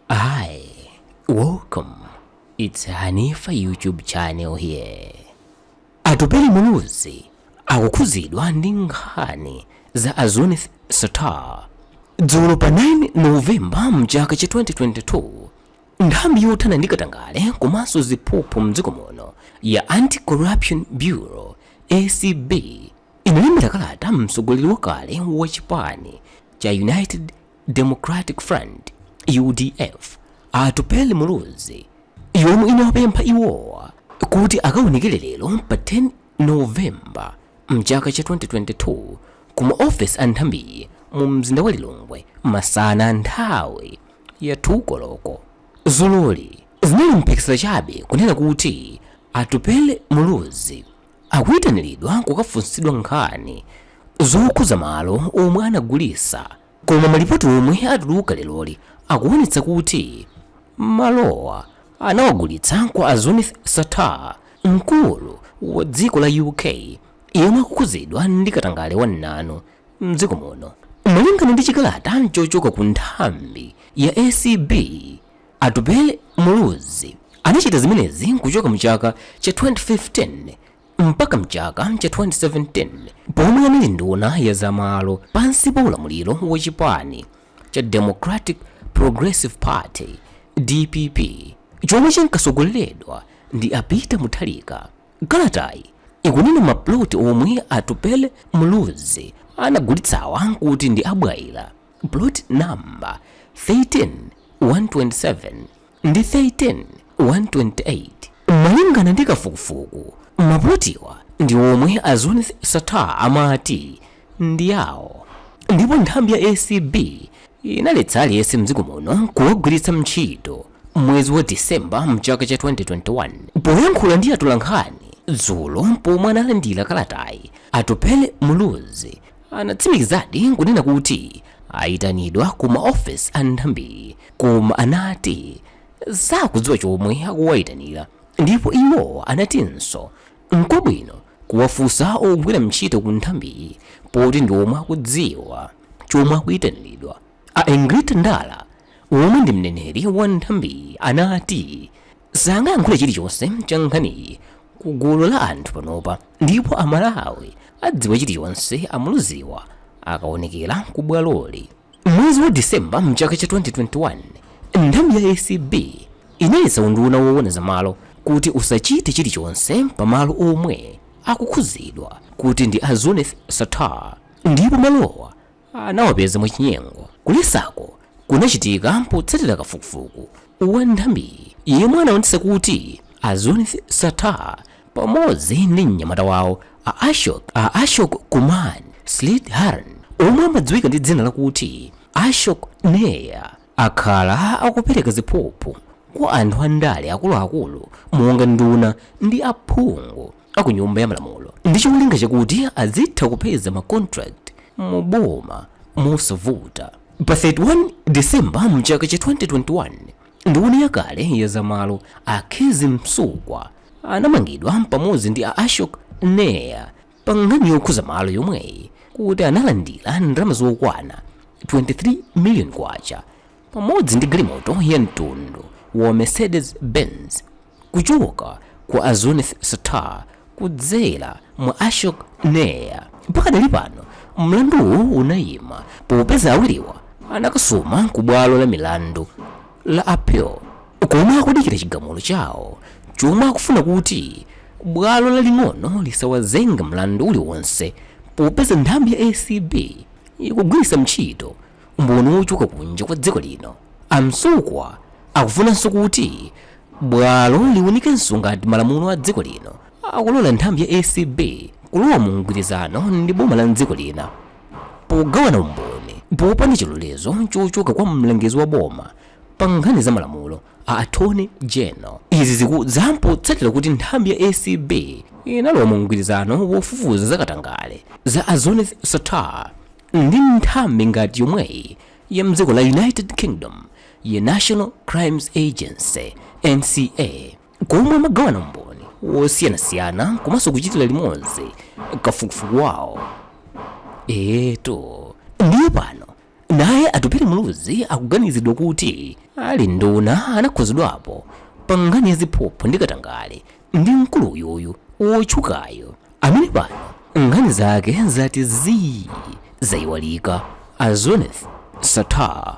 Hi, welcome. It's Hanifa YouTube channel here. Atupele Muluzi akukhuzidwa ndi nkhani za a Zuneth Sattar. Dzulo pa 9 Novemba mchaka cha 2022, nthambi yothana ndi katangale komanso ziphuphu mdziko muno ya Anti-Corruption Bureau ACB inalembera kalata mtsogoleri wakale wa chipani cha United Democratic Front, udf, a Atupele Muluzi yomwe inawapempha iwowa kuti akaonekere lero pa 10 November mchaka cha 2022 ku maofesi a nthambiyi mu mzinda wa Lilongwe masana nthawi ya 2 koloko. Dzuloli zinali mphekesera chabe kunena kuti Atupele Muluzi akuitanilidwa kukafunsidwa nkhani zokhuza malo omwe anagulisa koma malipoti omwe atuluka leroli akuonetsa kuti malowa anawagulitsa kwa a Zuneth Sattar mkulu wa dziko la UK yemwe akukhuzidwa ndi katangale wamnanu mdziko muno. Malingana ndi chikalata chochoka ku nthambi ya acb, Atupele Muluzi anachita zimenezi kuchoka mchaka cha 2015 mpaka mchaka cha 2017 pomwe anali nduna ya za malo pansi pa ulamuliro wa chipani cha Democratic Progressive Party, dpp, chomwe chinkatsogoleredwa ndi a Peter Mutharika. Kalatayi ikunena maploti omwe Atupele Muluzi anagulitsawa kuti ndi a Bwaila. Plot number 13 127 ndi 13 128. Malingana ndi kafukufuku, maplotiwa ndi omwe a Zuneth Sattar amati ndi awo ndipo nthambi ya acb inaletsa aliyense mdziko muno kuwagwiritsa ntchito mwezi wa December mchaka cha 2021. Poyankhula ndi atolankhani dzulo pomwe analandira kalatayi, Atupele Muluzi anatsimikizadi nkunena kuti ayitanidwa ku maofesi a nthambiyi koma anati sakudziwa chomwe akuwayitanira ndipo iwo anatinso nkwabwino kuwafunsa ogwira ntchito ku nthambiyi poti ndi omwe akudziwa chomwe akuyitanilidwa A Egrita Ndala, omwe ndi mneneri wa nthambiyi anati sangayankhule chilichonse cha nkhaniyi ku gulu la anthu panopa ndipo Amalawi adziwa chilichonse a Muluziwa akaonekera ku bwaloli. Mwezi wa December mchaka cha 2021, nthambi ya acb inaletsa unduna woona za malo kuti usachite chilichonse pa malo omwe akukhudzidwa kuti ndi a Zuneth Sattar ndipo malowa anawapeza mwachinyengo. Kuletsaku kunachitika potsatira kafukufuku wa nthambiyi yemwe anaonetsa kuti a Zuneth Sattar pamodzi ndi mnyamata wawo a Ashok Kumar Sreedharan omwe amadziwika ndi dzina lakuti Ashok Nair akhala akupereka ziphuphu kwa anthu andale akuluakulu monga nduna ndi aphungu. aku nyumba ya malamulo ndi cholinga chakuti azitha kupeza ma contract mu boma mosavuta pa 31 december mchaka cha 2021 nduna yakale ya zamalo a kezzie msukwa anamangidwa pamodzi ndi a ashok nair pa nkhani yokhuza malo yomweyi kuti analandira ndalama zokwana 23 million kwacha pamodzi ndi galimoto ya mtundu wa Mercedes Benz kuchoka kwa a Zuneth Sattar kudzera mwa Ashok Nair. Pakadali pano mlanduwu unayima popeza awiriwa anakasuma ku bwalo la milandu la appeal komwe akudikira chigamulo chawo chomwe akufuna kuti bwalo laling'ono lisawazenge mlandu uliwonse popeza nthambi ya acb ikugwiritsa ntchito umboni wochoka kunja kwa dziko lino a msukwa akufunanso kuti bwalo liunikenso ngati malamulo a dziko lino akulola nthambi ya acb kulowa mu mgwirizano ndi boma la mdziko lina pogawana umboni popanda chilolezo chochoka kwa mlangizi wa boma pa nkhani za malamulo a attorney general izi zikudza potsatira kuti nthambi ya acb inalowa mu mgwirizano wofufuza zakatangale za a zuneth sattar Ndi nthambi ngati yomweyi ya mdziko la United Kingdom ya National Crimes Agency, NCA, komwe amagawana umboni wosiyanasiyana komanso kuchitira limodzi kafukufuku wawo. Eetu, ndiye pano naye Atupele Muluzi akuganizidwa kuti ali nduna anakhuzidwapo pa nkhani ya ziphuphu ndi katangale Ndi mkulu uyuyu wotchukayo amene pano nkhani zake zati zii zaiwalika, a Zuneth Sattar.